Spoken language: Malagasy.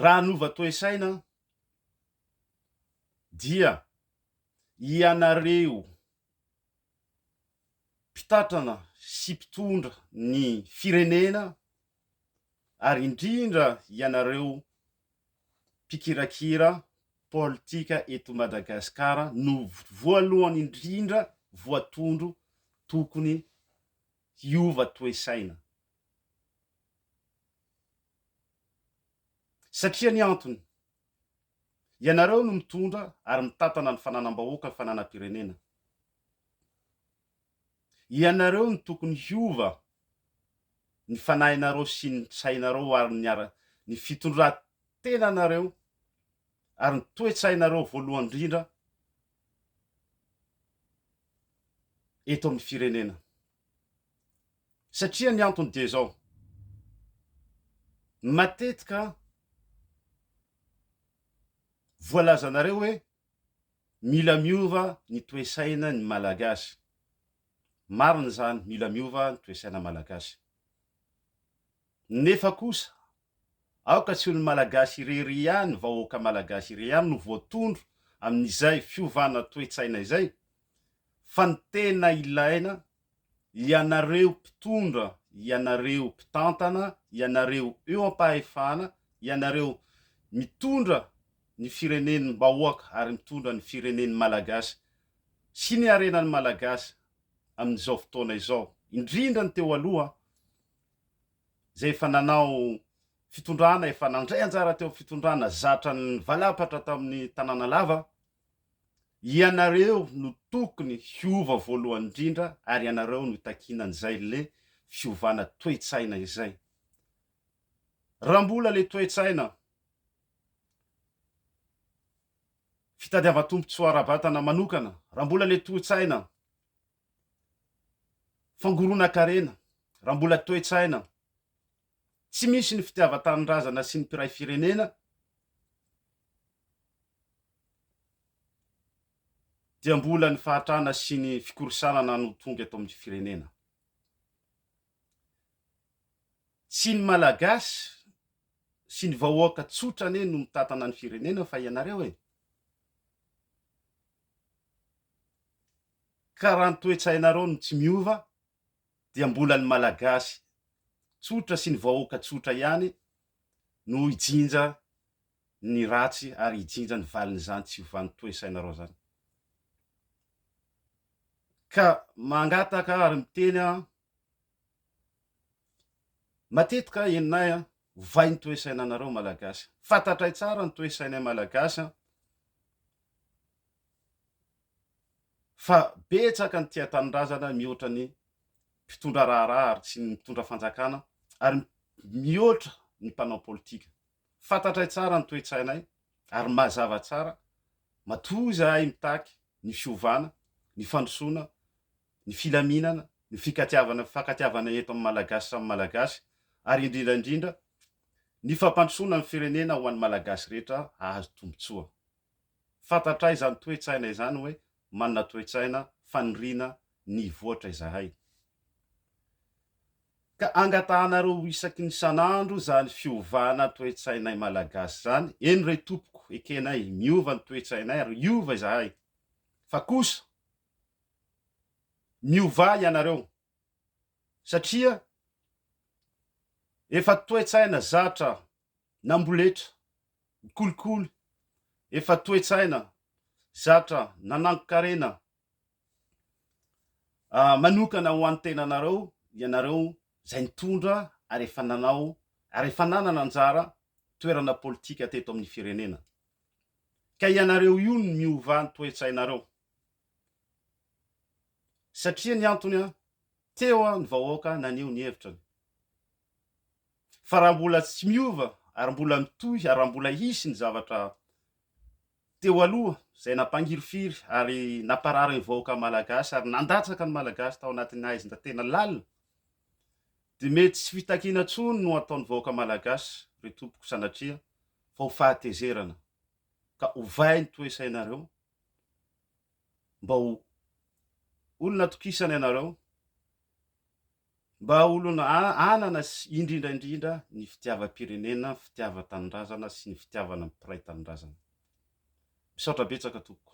Raha hanova toe-saina aho dia ianareo mpitatrana sy mpitondra ny firenena ary indrindra ianareo mpikirakira politika eto Madagasikara no voalohany indrindra voatondro tokony hiova toe-saina. Satria ny antony, ianareo no mitondra ary mitantana ny fananam-bahoaka ny fananam-pirenena. Ianareo no tokony hiova ny fanahinareo sy ny sainareo ary ny ara, ny fitondran-tenanareo ary ny toe-tsainareo voalohany indrindra, eto amin'ny firenena. Satria ny antony dia izao, matetika voalazanareo hoe mila miova ny toe-saina ny Malagasy. Marina izany, mila miova ny toe-saina malagasy. Nefa kosa, aoka tsy ho ny Malagasy irery ihany, vahoaka Malagasy irery ihany no voatondro amin'izay fiovana toe-tsaina izay, fa ny tena ilaina, ianareo mpitondra, ianareo mpitantana, ianareo eo am-pahefana, ianareo mitondra ny firenen'ny bahoaka ary mitondra ny firenen'ny Malagasy sy ny harenan'ny Malagasy amin'izao fotoana izao, indrindra ny teo aloha izay efa nanao fitondrana, efa nandray anjara teo amin'ny fitondrana zatra nivalapatra tamin'ny Tanànalava, ianareo no tokony hiova voalohany indrindra ary ianareo no itakiana an'izay le fiovana toe-tsaina izay. Raha mbola le toe-tsaina fitadiavan-tombontsoa ara-batana manokana, raha mbola le toe-tsaina, Fangoronan-karena, raha mbola toe-tsaina tsy misy ny fitiavan-tanindrazana sy ny mpiray firenena dia mbola ny fahatrana sy ny fikorisanana no tonga eto amin'ny firenena. Tsy ny Malagasy sy ny vahoaka tsotra anie no mitantana ny firenena fa ianareo e! Ka raha ny toe-tsainareo no tsy miova dia mbola ny Malagasy tsotra sy ny vahoaka tsotra ihany no hijinja ny ratsy ary hijinja ny valin'izany tsy fiovan'ny toe-sainareo izany. Ka mangataka ary miteny aho Matetika henonay an, ovay ny toesainanareo Malagasy an. Fantatray tsara ny toesainay Malagasy an, fa betsaka ny tia tanindrazana mihoatra ny mpitondra raharaha ary tsy ny mitondra fanjakana ary mihoatra ny mpanao politika. Fantatray tsara ny toetsainay ary mazava tsara, matoa izahay mitaky ny fiovana, ny fandrosoana, ny filaminana, ny fikatiavana, fifankatiavana eto amin'ny Malagasy samy Malagasy ary indrindra indrindra ny fampandrosoana ny firenena ho an'ny Malagasy rehetra hahazo tombotsoa. Fantatray izany toe-tsaina izany hoe manana toe-tsaina faniriana ny hivoatra izahay. Ka angatahanareo ho isaky ny isan'andro izany fiovana toe-tsainay Malagasy izany, eny re tompoko, ekenay, miova ny toe-tsainay ary hiova izahay. Fa kosa. Miovà ianareo satria efa toe-tsaina zatra namboletra, ny kolikoly efa toe-tsaina zatra nanangon-karena manokana ho an'ny tenanareo ianareo izay nitondra ary efa nanao ary efa nanana anjara toerana politika teto amin'ny firenena. Ka ianareo io no miovà ny toe-tsainareo. Satria ny antony, teo ny vahoaka naneho ny hevitrany. Fa raha mbola tsy miova ary mbola mitohy ary raha mbola hisy ny zavatra teo aloha izay nampangirifiry ary namparary ny vahoaka malagasy ary nandatsaka ny malagasy tao anatin'ny haizina tena lalina dia mety tsy fitakiana intsony no ataon'ny vahoaka malagasy ry tompoko sanatria fa ho fahatezerana ka ovay ny toe-sainareo Mba ho olona atokisana ianareo, mba olona hanana indrindra indrindra ny fitiavam-pirenena, ny fitiavan-tanindrazana sy ny fitiavana ny mpiray tanindrazana. Misaotra betsaka tompoko.